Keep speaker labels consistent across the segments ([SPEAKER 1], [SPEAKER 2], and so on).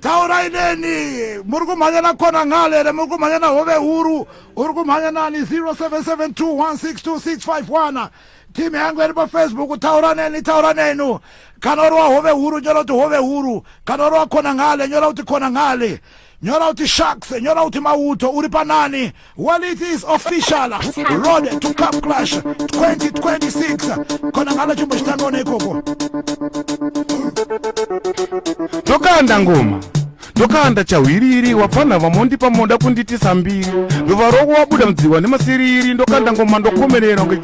[SPEAKER 1] taurai neni muri kumhanya na kona ngale here muri kumhanya na hove huru uri kumhanya nani 0772162651 team yangu iri pafacebook taura neni taura nenu kana uri wahove huru nyora kuti hove huru kana uri wakona ngale nyora kuti kona ngale nyora kuti sharks nyora kuti mauto uri panani Well, it is official. Road to Cup Clash 2026. Kona ngalo chimbo chitanone ikoko.
[SPEAKER 2] Tokanda ngoma. ndokanda chahwiriri wapfanha vamondipa moda kunditisa mbiri ndova roko wabuda mudziwa nemasiriri ndokanda ngoma ndokomerera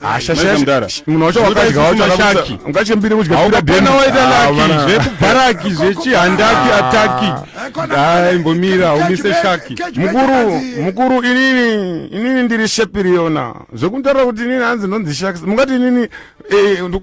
[SPEAKER 3] hasha Maiza mdara.
[SPEAKER 2] shasha munhu wacho Zvoda wakadya wacho isisina shaki shaki. ungachembire kudya pira haukapana deni. waita Ah, laki
[SPEAKER 3] vana. zvekubaraki zvechihandaki Ah. ataki dai mbomira haumise shaki mukuru mukuru
[SPEAKER 2] inini inini ndiri shepi riyona zvekutaura kuti inini hanzi ndonzi shaki mungati inini eh, ndu-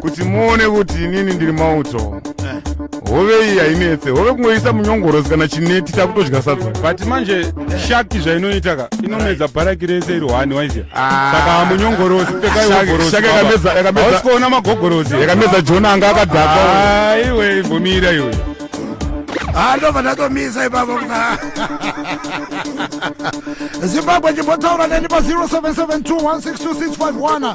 [SPEAKER 2] kuti muone kuti inini ndiri mauto hove iyi hainetse hove kungoisa munyongorozi kana chineti takutodya sadza but manje
[SPEAKER 3] shaki zvainoita ka inomedza bharaki rese iri hwani waizia ah. saka munyongorozi pekaiogorozisikuona magogorozi yakamedza jona anga
[SPEAKER 2] akadhaka ah, iwe ibvumira
[SPEAKER 3] iwe ah,
[SPEAKER 1] ndobva ndatomisa ipapo zimbabwe chimbotaura neni pa 0772162651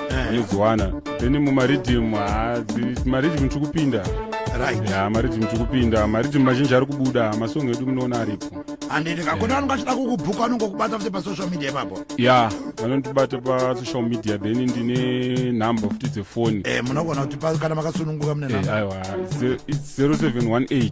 [SPEAKER 3] eh. unodziwana then mumaridhim maridhim tiri kupinda ya maridhim tiri kupinda maridhim mazhinji ari kubuda masong edu munoona aripo handiti kakona vanonga
[SPEAKER 1] achida kukubhuka anongokubata futi pasocial media ipapo ya vanondibata
[SPEAKER 3] pasocial media then ndine number futi dzefoni eh, munogona kuti
[SPEAKER 1] kana makasununguka mune eh, number
[SPEAKER 3] aiwa 0718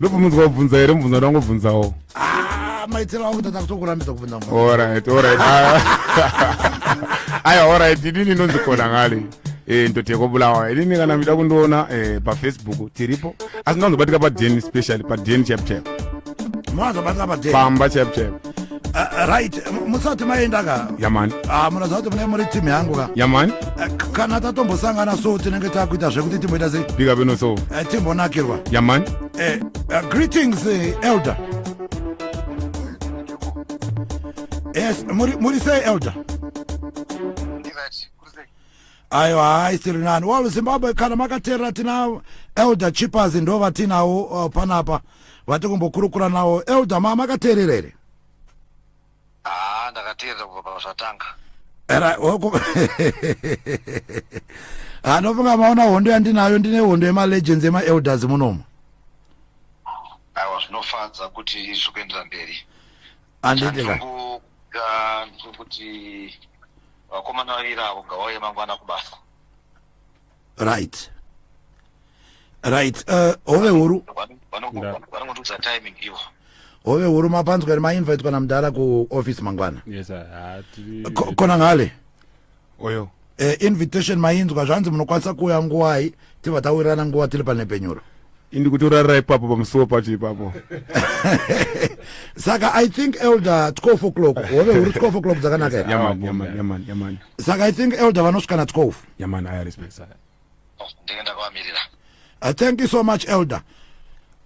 [SPEAKER 1] ndobvunzwa kubvunza
[SPEAKER 2] here mubvunza ndangobvunzawo ah, maitiro
[SPEAKER 1] angu tata kutokurambidza kubvunza orit orit
[SPEAKER 2] aya orit idini inonzi kona ngale eh, ndoteko bulawa idini kana mita kundiona eh, pafacebook tiripo asi ndanzobatika paden specially paden chapchap
[SPEAKER 1] pamba chapchap
[SPEAKER 2] Uh, right
[SPEAKER 1] musati maenda ka yamani ah, munoziva
[SPEAKER 2] kuti mune muri
[SPEAKER 1] timu yangu ka yamani uh, eh, kana tatombosangana so tinenge takuita zvekuti timboita sei bika bino so uh, eh,
[SPEAKER 2] timbonakirwa
[SPEAKER 1] yamani uh,
[SPEAKER 2] uh, greetings
[SPEAKER 1] uh, elder yes muri, muri sei elder ayo hayi siri nani wall zimbabwe kana makateerera tina elder chippers ndo vatinawo uh, panapa vati kumbokurukura nawo elder ma makateerera here haa ah,
[SPEAKER 4] ndakateerera kubva pazvatanga era oko
[SPEAKER 1] anofunga maona hondo yandinayo ndine hondo yemalegends emaelders munomo aiwa
[SPEAKER 4] zvinofadza kuti zvikuendera mberi anditira
[SPEAKER 1] kuti
[SPEAKER 4] vakomana vaviri avo gawauye mangwana kubasa
[SPEAKER 1] right right uh, hove huru vanongotiudza
[SPEAKER 4] timing ivo hove huru
[SPEAKER 1] mapanzwa ri mainvitwa namudhara kuoffice mangwana yes,
[SPEAKER 3] kona
[SPEAKER 1] ngale
[SPEAKER 2] oyo eh, invitation
[SPEAKER 1] mainzwa zvanzi munokwanisa kuuya nguvai tibva tawirirana nguva tiri panhepfenyuro indi kutorarira
[SPEAKER 2] ipapo pamusuwo pacho ipapo saka
[SPEAKER 1] i think elder 12 o'clock hove huri 12 o'clock dzakanaka
[SPEAKER 2] saka i think
[SPEAKER 1] elder vanosvika na 12 yamani i respect sir
[SPEAKER 2] ndenge
[SPEAKER 4] ndakavamirira uh, thank you so
[SPEAKER 1] much elder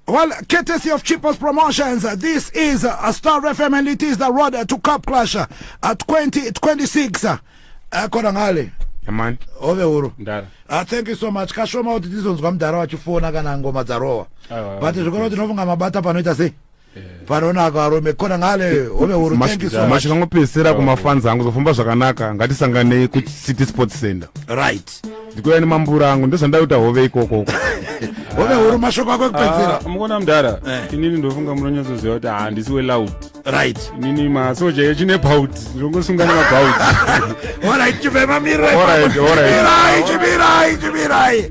[SPEAKER 1] Well, courtesy of Cheapest Promotions, this is a Star FM and it is the road to Cup Clash at 2026. Uh, Kona ngale. Amani.
[SPEAKER 2] Ove uru.
[SPEAKER 1] Ndara. Uh, thank you
[SPEAKER 3] so much.
[SPEAKER 1] Kashoma kuti tizonzwa mdara wachifona kana ngoma dzarowa. But zvikoro tinofunga mabata panoita sei? panonaka arume kona ngale home huru thank you so much mashikangopesera kumafanzi
[SPEAKER 2] angu zofamba zvakanaka ngatisanganei kucity sports center right ndikuya
[SPEAKER 1] nemambura
[SPEAKER 2] angu ndozvandaita hove ikoko uko hove
[SPEAKER 1] huru mashoko ako ekupedzera ah, mukona mudhara
[SPEAKER 3] eh. inini ndofunga munonyatsoziva kuti handisi weloud right inini
[SPEAKER 1] masoja
[SPEAKER 3] yechine bout ndongosungana mabout
[SPEAKER 1] orit chibema
[SPEAKER 3] mirai
[SPEAKER 1] chimirai chimirai